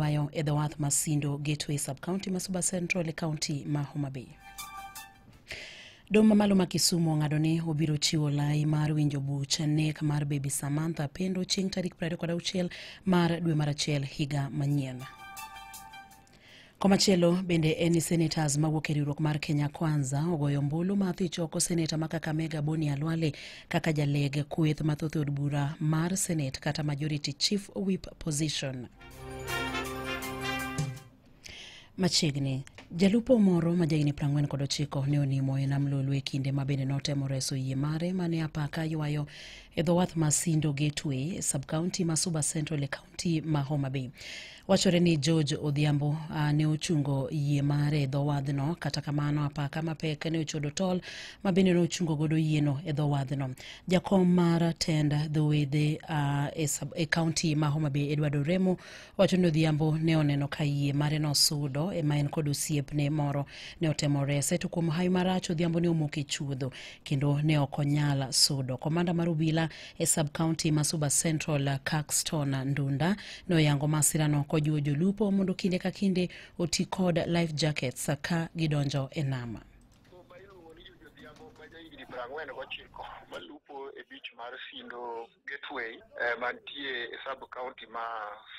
ywayo e dhowath ma Sindo Gateway Sub-County ma Suba Central e kaunti ma Homa Bay. Doho mamalo ma Kisumu ong'ado ni obiro chiwo lai mar winjo buch nek mar Baby Samantha Pendo chieng' tarik 26 mar dwe mar achiel higa manyien. Komachielo bende en ni senators mawuok e riwruok mar Kenya Kwanza ogoyo ombulu ma dhi choko seneta ma Kakamega Boni Alwale kaka jaleg kweth mathoth e od bura mar Senate kata majority chief whip position. machiegni jalupo moro ma jahigni 49 ne onimo e nam lolwe kinde ma bende notemo reso yie mare ma ne apaka ywayo e dho wath ma sindo gateway e subcounty ma suba central e county ma homa bay wachore ni george odhiambo uh, ne ochungo yie mare e dho wadhno kata kamano apaka mapek ne ochodo tol ma bende ne ochungo godo yieno e dho wadhno Jakom mar tend dhowedhe uh, e, sub- e kaunti ma Homa Bay Edward Oremo wacho ni Odhiambo ne oneno ka yie mare nosudo ema en kod osiepne moro ne otemo rese to kuom hawi marach Odhiambo ne omoko e chuodho kendo ne ok onyal sudo. Komanda mar obila e sub kaunti ma Suba Central Caxton Ndunda ne oyango masirano kojiwo jolupo mondo kinde ka kinde oti kod life jackets ka gidonjo e nama. Oba iluongo ni Juju Odhiambo ma jahigni piero ang'wen gochiko malupo e beach mar Sindo Gateway eh, mantie e sub county ma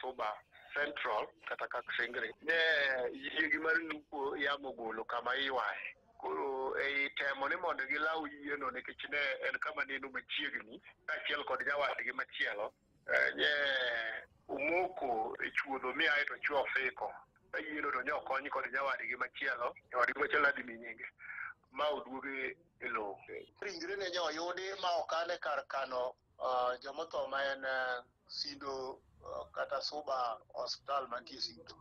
Suba Central kata Kaksingri. Ne yiegi mar lupo yamo golo kama iwaye. Koro ei temo ni mondo gilaw yieno nikech ne en kama neno machiegni kaachiel kod nyawadgi machielo nye umoko e chuodho mi ae to chwo ofiko ka yiero to nyo kony kod nyawadgi machielo nyawadgi machielo adi mi nyinge ma oduoge e lowo ringre ne nyo yudi ma okane kar kano uh, jomotho ma en uh, sindo uh, kata suba hospital mantie sindo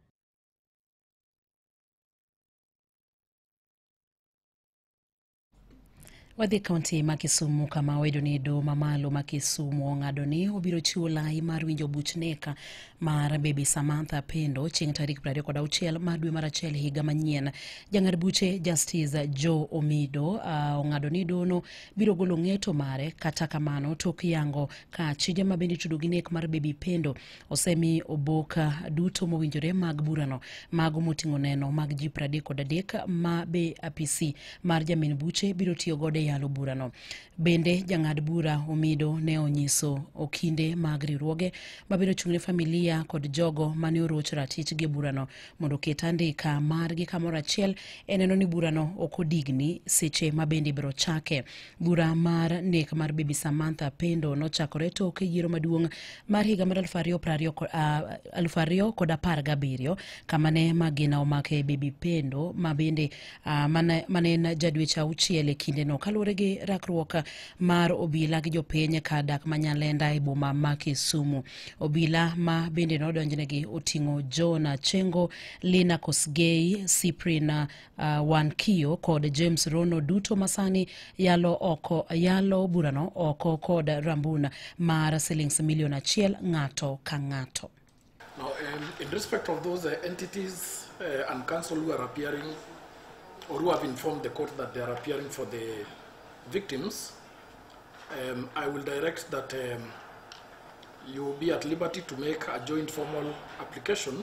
Wadhi e kaunti ma Kisumu kama owedo ni doho mamalo ma Kisumu ong'ado ni obiro chiwo lai mar winjo buch neka mar bebi Samantha Pendo chieng' tarik 26 mar dwe mar achiel higa manyien. Jang'ad buche Justice Joe Omido uh, ong'ado ni dono biro golo ng'eto mare kata kamano tok yango ka chije ma bende itudo gi nek mar bebi Pendo osemi oboka duto mowinjore mag burano mago moting'o neno mag ji 30 kod adek ma be apisi mar jamin buche biro tiyo godo e yalo burano bende jang'ad bura omido ne onyiso okinde mag riwruoge mabiro chung'ne familia kod jogo mane oroch ratichgi e burano mondo oket andika margi kamoro achiel e neno ni burano ok odigni seche mabende ibiro chake Bura mar nek mar Bibi Samantha Pendo nochakore tok yiero maduong' mar higa mar aluf ariyo pra ariyo ko- ah, aluf ariyo kod apar gabiriyo kama ne magina omake Bibi Pendo ma bende ah, mane mane en jadwech auchiel e kindeno kaluwore gi rakruok mar obila gi jopiny ka dak ma Nyalenda e boma ma Kisumu. Obila ma bende nodonjnegi oting'o John Achengo, Lina Kosgei, Cyprian uh, wan kiyo kod james rono duto masani yalo oko yalo burano oko kod rambun mar silings milion achiel ng'ato ka ng'ato Now, um, in respect of those uh, entities uh, and council who are appearing or who have informed the court that they are appearing for the victims, um, I will direct that um, you will be at liberty to make a joint formal application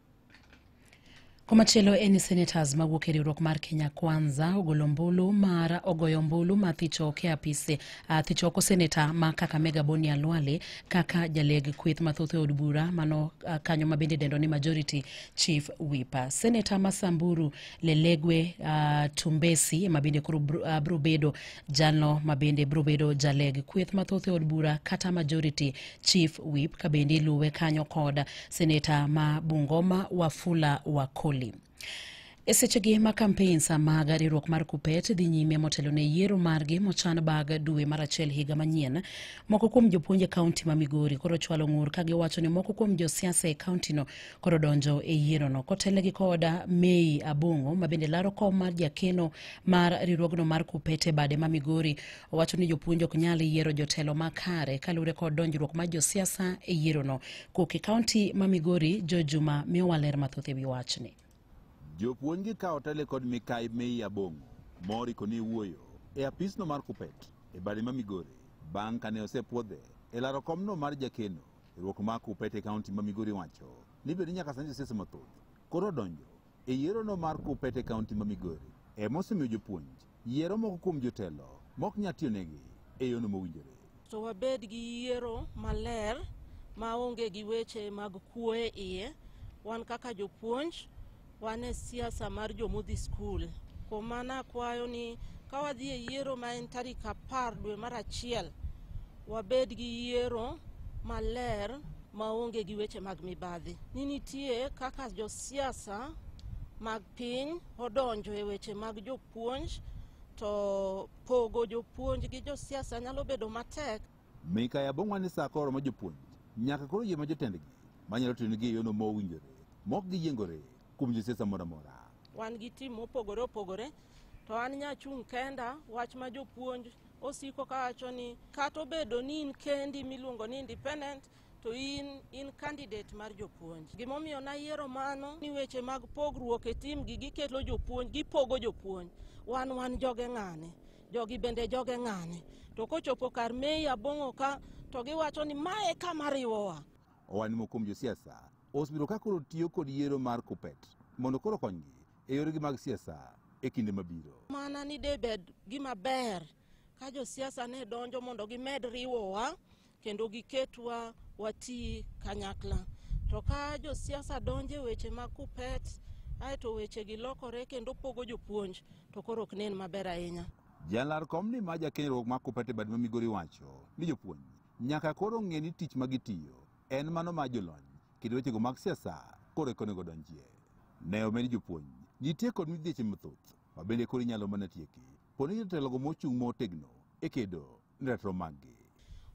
Komachielo en ni senators mawuok e riwruok mar Kenya Kwanza ogolo ombulu mar ogoyo ombulu ma thichoke apise uh, thichoko seneta ma Kakamega Boni Alwale kaka jaleg kweth mathoth e od bura mano uh, kanyo ma bende dendo ni majority chief whip. Seneta ma Samburu Lelegwe uh, Tumbesi ma bende koro bro, uh, bro bedo jalno ma bende bro bedo jaleg kweth mathoth e od bura kata majority Chief Whip kabende iluwe kanyo kod seneta ma Bungoma Wafula Wakoli. E sechegi ma kampeins mag riwruok mar kupet dhi nyime motelo ne yiero margi mochan bag dwe mar achiel higa manyien moko kuom jopuonj e kaunti ma migori koro chwalo ng'ur ka giwacho ni moko kuom josiasa e kauntino koro donjo e yierono kotelnegi koda mei abong'o ma bende laro kom mar jakeno mar riwruogno mar kupet e bade ma migori Owacho ni jopuonj ok nyal yiero jotelo makare kaluwore kod donjruok mar josiasa e yierono. Koke kaunti ma Migori, Jo Juma miyowa ler mathoth e wi wachni. Jopuonj gi kawo tele kod mikai Mei Abong'o mori koni wuoyo e apisno mar Kupet e bade ma Migori bang' kane osepwodhe e laro komno mar jakeno e ruok ma Kupet e kaunti ma Migori wacho ni bende nyaka sani josiasa mathoth koro odonjo E yierono mar Kuppet e kaunti ma Migori, ema osemiyo jopuonj yiero moko kuom jotelo mok nyal tiyonegi e yono mowinjore. To wabed gi yiero maler ma onge gi weche mag kuo e iye. Wan kaka jopuonj, wan e siasa mar jomodhi skul. Kuom mano akwayo ni ka wadhi e yiero ma en tarik apar dwe mar achiel, wabed gi yiero maler maonge gi weche mag mibadhi ni nitie kaka josiasa mag piny odonjo e weche mag jopuonj to pogo jopuonj gi josiasa nyalo bedo matek Mika ya bongwa ni saa koro ma jopuonj nyaka koro yie ma jotendgi manyalo tiyonegi e yono ma owinjore mok giyiengore kuom josiasa moro amora. wan gi tim mopogore opogore to an nyachung' kenda wach ma jopuonj osiko kawacho ni kata obedo ni in kendi miluongo ni independent to in in candidate mar jopuonj gimomiyo nayiero mano ni weche mag pogruok e tim gi gikelo jopuonj gipogo jopuonj wan wan joge ng'ane jogi bende joge ng'ane to kochopo kar mei abong'o ka to giwacho ni mae kama riwowa Owadni moko kuom josiasa osebiro ka koro tiyo kod yiero mar KUPPET mondo koro konygi e yoregi mag siasa e kinde mabiro. Mana ni debed gima ber ka josiasa ne donjo mondo gimed riwowa kendo giketwa wati kanyakla. To ka josiasa donjo e weche mag kupet aeto weche gi lokore kendo pogo jopuonj to koro ok nen maber ahinya. Jalar kom ni ma jakenyruok ma kupet e bad ma Migori wacho ni jopuonj nyaka koro ng'e ni tich ma gitiyo En mano ma jolony kendo wechego mag siasa koro eka onego donjie. Ne omed jopuonj, nitie kod midhieche mathoth ma bende koro inyalo mana tieki. Poni jotelogo mochung' motegno e kedo ne ratiro maggi.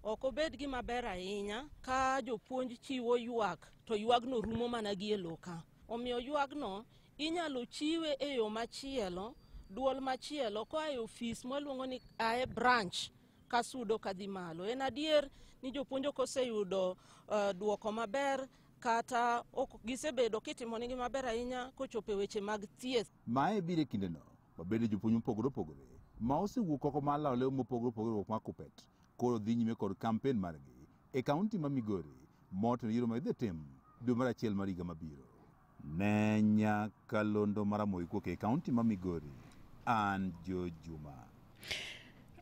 Ok obed gima ber ahinya ka jopuonj chiwo ywak to ywagno rumo mana gi e loka. Omiyo ywagno inyalo chiwe e yo machielo, duol machielo koa e ofis mwaluongo ni ae branch kasudo kadhi malo. En adier ni jopuonj ok oseyudo uh, duoko maber kata ok gisebedo kitimonigi maber ahinya kochopo e weche mag thieth. Mae biro e kindeno mabende jopuonj mopogore opogore ma osewuok oko mar lawo lew mopogore opogore ruok mar kupet koro dhi nyime kod kampen margi e kaunti ma Migori motelo yiero ma idhi tim dwe mar achiel mar higa mabiro. Ne Nyakalondo Maramogi kuok e kaunti ma Migori, an Jo Juma.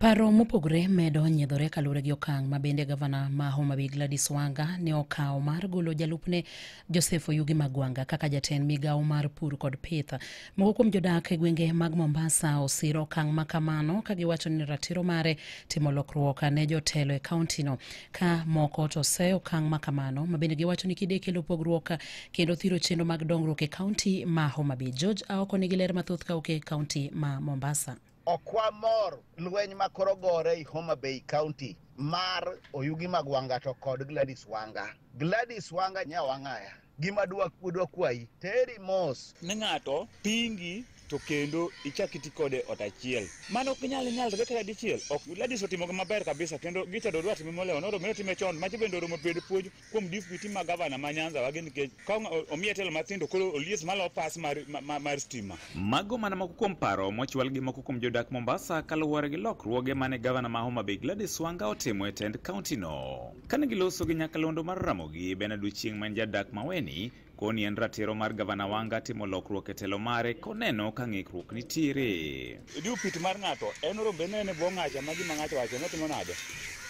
Paro mopogore medo nyiedhore kaluwore gi okang' ma bende gavana ma Homa Bay Gladys Wanga ne okawo mar golo jalupne Joseph Oyugi Magwanga kaka jatend migawo mar pur kod pith. Moko kuom jodak e gwenge mag Mombasa osiro okang' ma kamano ka giwacho ni ratiro mare timo lokruok ne jotelo e kauntino. ka moko to seyo okang' ma kamano ma bende giwacho ni kide kelo pogruok kendo thiro chenro mag dongruok e kaunti ma Homa Bay. George Aoko nigi ler mathoth kawuok e kaunti ma Mombasa. Ok wamor lweny ma koro gore i Homa Bay County mar Oyugi mag Wanga to kod Gladys Wanga. Gladys Wanga nya Wangaya. gima dwa dwa kwayi teri mos ne ng'ato pingi to kendo ichak iti kode ot achiel mano ok nyal nyalre kata dichiel ok ladis otimogi maber kabisa kendo gita dodwa time molewo noro mero time chon macho bende oromo bedo puonj kuom dipiti ma gavana ma nyanza wagi nikech ka ong- omiye telo mathindo koro olies malo pas mar, ma- ma- mar stima Mago mana moko kuom paro mochwal gi moko kuom jodak Mombasa kaluwore gi lokruoge mane gavana ma Homa Bay Gladys Wanga otimo e tend kaontino. Kane giloso gi nyakalondo mar Ramogi, Bernard Ochieng ma en jadak Maweni koni en ratiro mar gavana Wanga timo lokruok e telo mare koneno ka ng'ikruok nitiere. Idiyo pit mar ng'ato en rombe ne ne bwo ng'acha ma gima ng'ato wacho motimo nade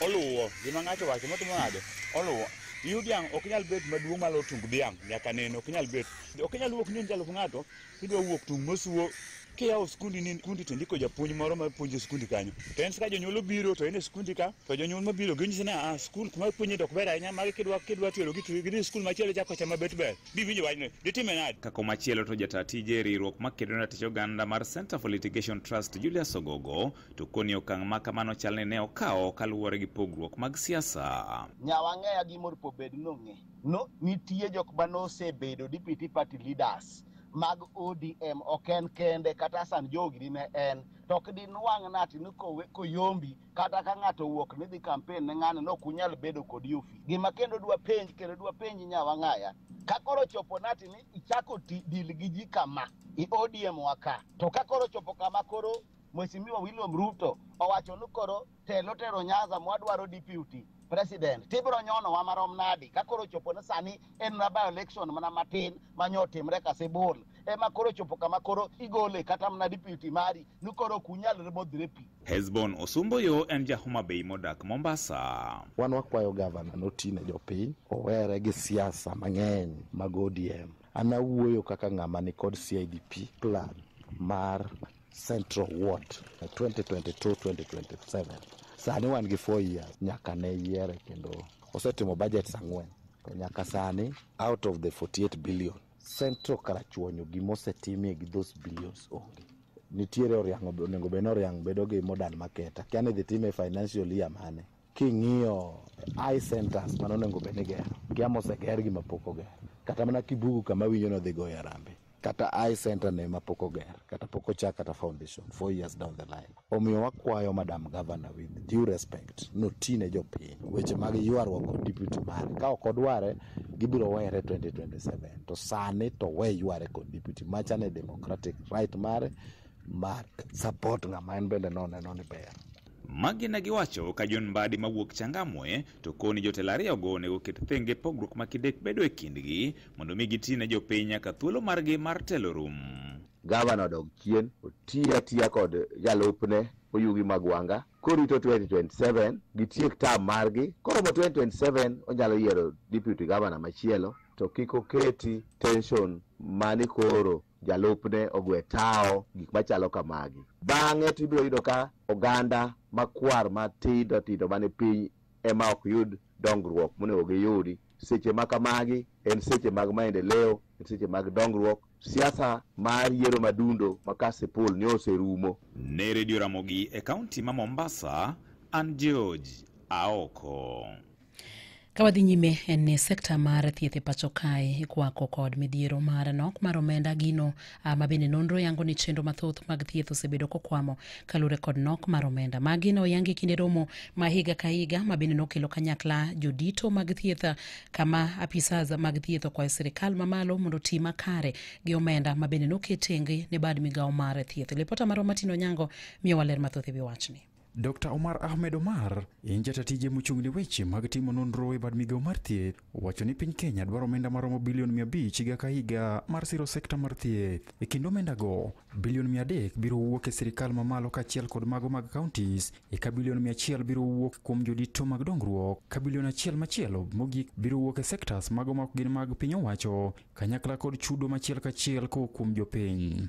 oluwo gima ng'ato wacho motimo nade oluwo iyu dhiang' ok nyal bet maduong' malo tung dhiang' nyaka neno ok nyal bet ok nyal wuok ni en jalup ng'ato Kidwa wuok tung' mosuo kiyawo skundi ni skundi to ndiko japuonj moro ma puonjo skundi kanyo. To en ka jonyuol obiro to en e skundi ka to jonyuol ma biro ginyisi ni ah skul kuma puonje dok ber ahinya magi kidwa kidwa tero gi to gidhi skul machielo chako chama bet ber. Bi winjo wachno. Ditime nade? Kako machielo to jata tije e riwruok makedo ne ratich oganda mar Center for Litigation Trust Julius Ogogo to koni okang' ma kamano chal ni ne okawo kaluwore gi pogruok mag siasa. Nyawa ng'eya gi mor pobed nong'e. no nitie jok ma nosebedo deputy party leaders mag ODM ok en kende kata Hassan Joho gini ne en to ok dinwang' nati ni kowe koyombi kata ka ng'ato owuok ni dhi campaign ne ng'ano no kunyal bedo kod yufi gima kendo dwa penj kendo dwa penj nyawa ng'aya ka koro chopo nati ni ichako ti dil gi ji kama i ODM waka to ka koro chopo kama koro Mheshimiwa William Ruto owacho ni koro telo tero nyaza mwadwaro deputy president tibiro nyonowa marom nadi ka koro chopo ni sani en na by election mana matin ma nyo otimre kasibul ema koro chopo kama koro igole kata mana deputy mari ni koro ok unyalre modhre pi Hesbon Osumboyo en ja Homa Bay modak Mombasa. wan wakwayo gavana noti ne jopiny owere gi siasa mang'eny mag odm an awuoyo kaka ng'ama nikod cidp plan mar Central Ward 2022-2027. Sani wan gi 4 years nyaka ne yiere kendo osetimo budgets ang'wen. To nyaka sani out of the 48 billion Central Karachuonyo gima osetimie gi those billions onge. Nitiere Oriang' onego bed ni Oriang' bedo gi modern market. Akia ni idhi time e financial year mane. King'iyo eye centers mane onego bed ni igero, gia moseger gi mapok oger. Kata mana Kibugu kama awinjo ni odhi goye harambee, kata eye center ne mapok oger, kata pok ochak kata foundation, four years down the line. Omiyo wakwayo Madam Governor with due respect, noti ne jopiny weche mag ywaruok kod deputy mare. Ka ok odware, gibiro were 2027. To sani to we yware kod deputy. Macha ne democratic right mare mar support ng'ama en bende noneno ni ber. Magi ne giwacho ka John Mbadi mawuok Changamwe to koni jotelo ariyogo onego oket thenge pogruok ma kidek bedo e kindgi mondo mi giti ne jopiny nyaka thuolo margi mar telo rum. Gavana odog chien otiya tiya kod jalupne Oyugi Magwanga korito 2027 gitiek tam margi koromo 2027 onyalo yiero deputy gavana machielo to kik oketi tension mani koro jalupne ogwe tawo gik machalo kamagi bang'e to ibiro yudo ka oganda makwar matindo tindo mane piny ema ok yud dongruok monego giyudi seche ma kamagi en seche mag maendeleo en seche mag dongruok siasa mar yiero madundo ma kasipul ne oserumo ne redio ramogi e kaunti ma mombasa an george aoko Ka wadhi nyime en ni sekta mar thieth e pacho kae ikwako kod midhiero mar nok mar omenda gino ah, ma bende nonro yango ni chenro mathoth mag thieth osebedo kokwamo kaluwore kod nok mar omenda. Magi ne oyangi kinde romo ma higa ka higa ma bende nokelo kanyakla jodito mag thieth ah, kama apisas mag thieth okwayo sirikal mamalo mondo oti makare gi omenda ma bende noket tenge ne bad migawo mar thieth. Lipota marwa Martin Onyango miyowa ler mathoth e wi wachni. Dr. Omar Ahmed Omar en jata tije mochung' ne weche mag timo nonro e bad migawo mar thieth owacho ni piny Kenya dwaro omenda maromo bilion 500 higa ka higa mar siro sekta mar thieth. E kind omendago, bilion 300 biro wuok e sirkal mamalo kaachiel kod mago mag counties, eka bilion 100 biro wuok kuom jodito mag dongruok, ka bilion achiel machielo mogik biro wuok e sectors mago ma ok gin mag piny owacho, kanyakla kod chudo machiel kachiel kowuok kuom jopiny.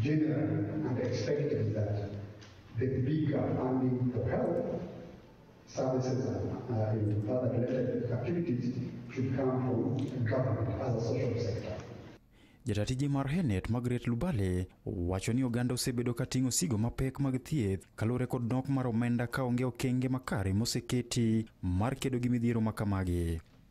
Generally and expected that the bigger funding for health services and uh, other related activities should come from government as a social sector. Jatatiji mar Henet Margaret Lubale wacho ni oganda osebedo ka ting'o sigo mapek mag thieth kaluwore kod nok mar omenda ka onge okenge makare moseketi mar kedo gi midhiero ma kamagi.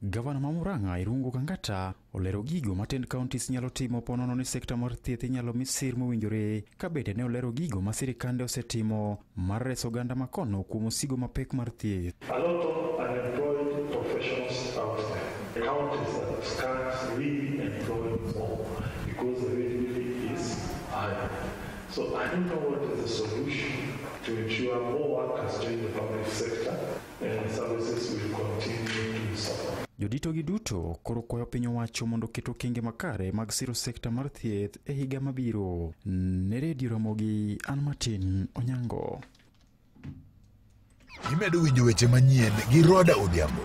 Gavana ma Murang'a Irungu Kangata olero gigo ma ten counties nyalo timo ponono ni sekta mar thieth inyalo mi sir mowinjore ka bende ne olero gigo ma sirikande osetimo mar reso oganda ma kono kuom osigo mapek mar thieth. A lot of unemployed professionals out there. The counties that can't really employ more because the wage bill is high. So I don't know what is the solution to ensure more workers join the public sector Joditogi duto koro kwayo piny owacho mondo oket okenge makare mag siro sekta mar thieth e higa mabiro. Ne redio Ramogi, an Martin Onyango. Imedo winjo weche manyien gi Roda Odhiambo.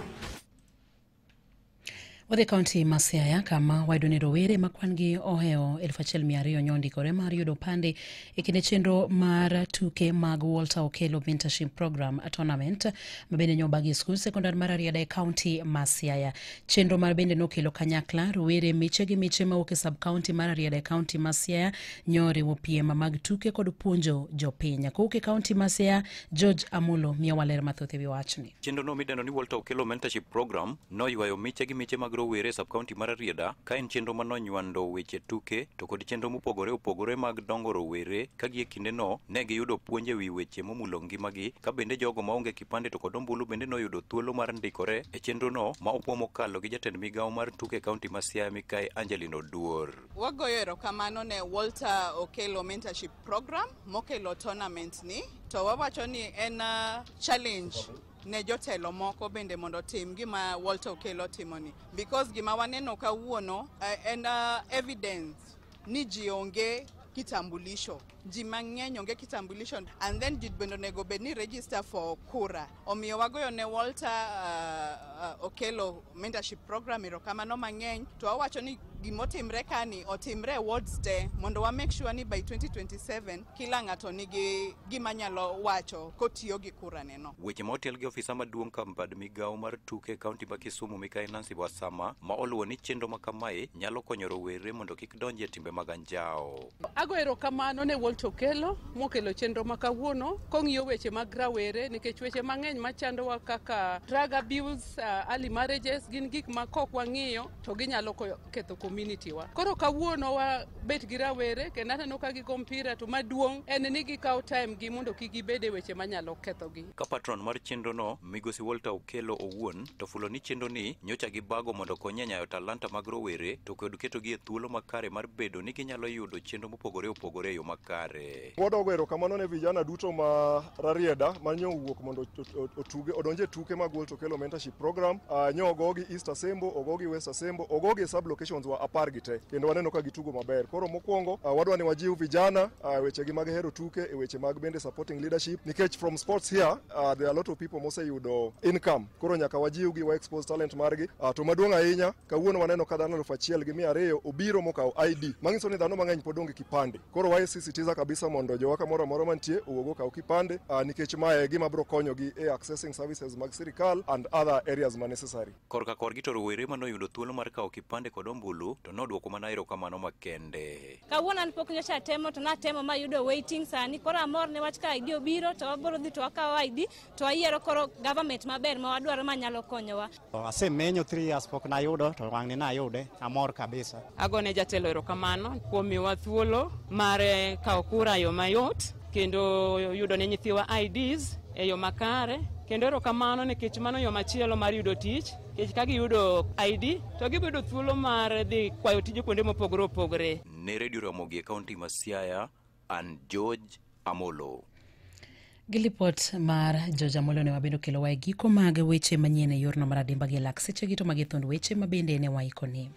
Wadhi kaunti ma Siaya kama wayudo ni rowere ma kwan-gi ohewo 1,200 nyo ondikore mar yudo opande e kinde chenro mar tuke mag Walter Okello Mentorship Program Tournament ma bende nyo bagi skul sekondar mar Ariada e kaunti ma Siaya. Chenro mar bende nokelo kanyakla rowere miche gi miche mawuok e sub kaunti mar Ariada e kaunti ma Siaya nyo riwo piem mag tuke kod puonjo jopiny. Kowuok e kaunti ma Siaya, George Amulo miyowa ler mathoth e wi wachni. Chenrono midendo ni Walter Okello Mentorship Program noywayo miche gi miche mag rowere e sub-county mar Arieda ka en chenro ma nonywando weche tuke to kod chenro mopogore opogore mag dongo rowere ka gie kindeno ne giyudo puonj e wi weche momulo ngimagi ka bende jogo maonge kipande to kod ombulu bende noyudo thuolo mar ndikore e chenrono ma opuo mokalo gi jatend migawo mar tuke e kaunti ma Siaya mikae Angelino Duor. Wagoyo erokamano ne Walter Okello Mentorship Program mokelo tournament ni to wawacho ni en uh, challenge ne jotelo moko bende mondo otim gima Walter Okello timoni because gima waneno kawuono uh, en uh, evidence ni ji onge kitambulisho ji mang'eny onge kitambulisho and then ji bende onego bed ni register for kura omiyo wagoyo ne Walter uh, uh, Okello mentorship program erokamano mang'eny to wawacho ni gimotimre kani otimre e wards te mondo wa make sure ni by 2027 Kila ng'ato nigi gima nyalo wacho kotiyo gi kuraneno. Weche ma otel gi ofisa maduong' kambad migawo mar tuke e kaunti ma Kisumu mikayi Nancy Wasama ma oluwo ni chenro ma kamae nyalo konyo rowere mondo kik donji e timbe mag anjawo. Ago erokamano ne Walt Okello mokelo chenro ma kawuono kong'iyo weche mag rawere nikech weche mang'eny machandowa kaka drug abuse, uh, early marriages gin gik ma kok wang'iyo to ginyalo ketho community wa. Koro kawuono wa bet gi rawere kendo aneno ka gigo mpira to maduong' en ni gikawo time gi mondo kik gibed e weche manyalo kethogi. Ka patron mar chenrono Migosi Walter Okello owuon to fulo ni chenroni nyocha gibago mondo okonye nyayo talanta mag rowere to kod ketogi e thuolo makare mar bedo ni ginyalo yudo chenro mopogore opogore e yo makare. Wadwa goyo erokamano ne vijana duto ma Rarieda ma nyo owuok mondo otuge odonje e tuke mag World Tokelo Mentorship Program. Uh, nyo ogogi East Asembo, ogogi West Asembo, ogogi e sub locations wa apar gi te kendo waneno ka gitugo maber. Koro mokwongo uh, wadwa ni wajiw vijana uh, wechegi mag hero tuke e weche mag bende supporting leadership nikech from sports here uh, there are a lot of people moseyudo income. Koro nyaka wajiwgi wa expose talent margi uh, to maduong' ahinya kawuono waneno ka dhano elfu achiel gi mia ariyo obiro mokawo ID. Mang'iso ni dhano mang'eny pod onge kipande. Koro wasisitiza kabisa mondo jowa kamoro amora mantie owuog okaw kipande uh, nikech mae gima biro konyogi e accessing services mag sirikal and other areas ma necessary. Korka korgi to rowere ma noyudo thuolo mar kawo kipande kod ombulu to nodwoko mana erokamano makende. Kawuono an pok nyocha atemo to natemo mayudo waiting sani koro amor ne wach ka ID obiro to wabiro dhi to wakawo ID to wayiero koro government maber ma wadwaro ma nyalo konyowa. Asemenyo 3 years pok nayudo to wang'ni nayude, amor kabisa. Agone jatelo erokamano kuom miwa thuolo mar eh, kawo kura yo mayot kendo yudo ne nyithiwa IDs e yo makare kendo erokamano nikech mano yo machielo mar yudo tich nikech ka giyudo ID to gibedo thuolo mar dhi kwayo tije kuonde mopogore opogore. Ne Redio Ramogi e kaunti ma Siaya, and George Amolo. Gi lipot mar George Amolo ne wabedo kelowa e giko mag weche manyien e yorno mar adimba gi lak sechegi to magi thund weche ma bende ne waikoni.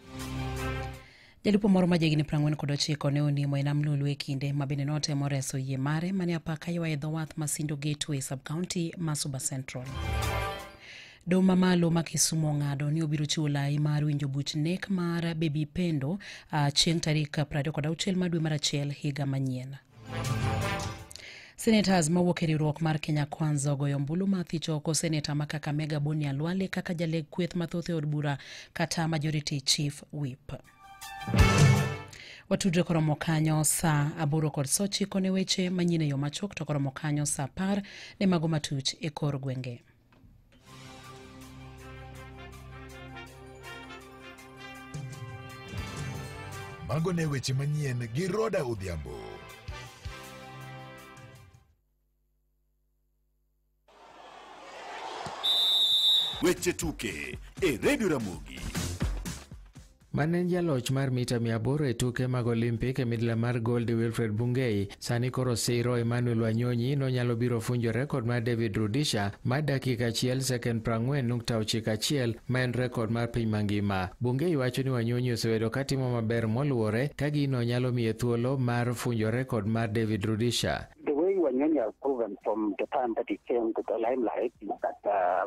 Jalupo moro ma jahigni prang'wen kod ochiko ne onimo e nam Lulu e kinde ma bende notemo reso yie mare mane apaka ywa e dho wath ma Sindo Gateway sub-county ma Suba Central. Doho mamalo ma Kisumo ong'ado ni obiro chiwo lai mar winjo buch nek mar Baby Pendo uh, chieng' tarik 26 ma dwe mar achiel higa manyien. Senators mawuok e riwruok mar Kenya Kwanza ogoyo ombulu ma thich oko seneta ma Kakamega Boni Alwale kaka jaleg kweth mathoth e od bura kata majority chief whip. Watudre koromo kanyo saa aboro kod saa ochiko ne weche manyien e yo machuok to koromo kanyo saa apar ne mago matuch e kor gwenge. Mago ne weche manyien gi Roda Odhiambo. Weche tuke e Radio Ramogi. Mane en jaloch mar mita 800 e tuke mag Olimpik e midila mar gold Wilfred Bungei sani koro siro Emmanuel Wanyonyi nonyalo biro funjo rekod mar David Rudisha mar dakika achiel sekend 40.91 ma en rekod mar piny mangima. Bungei wacho ni Wanyonyi osebedo ka timo maber moluwore ka gino nyalo miye thuolo mar funjo rekod mar David Rudisha. The way Wanyonyi has proven from the time that he came to the limelight is that uh,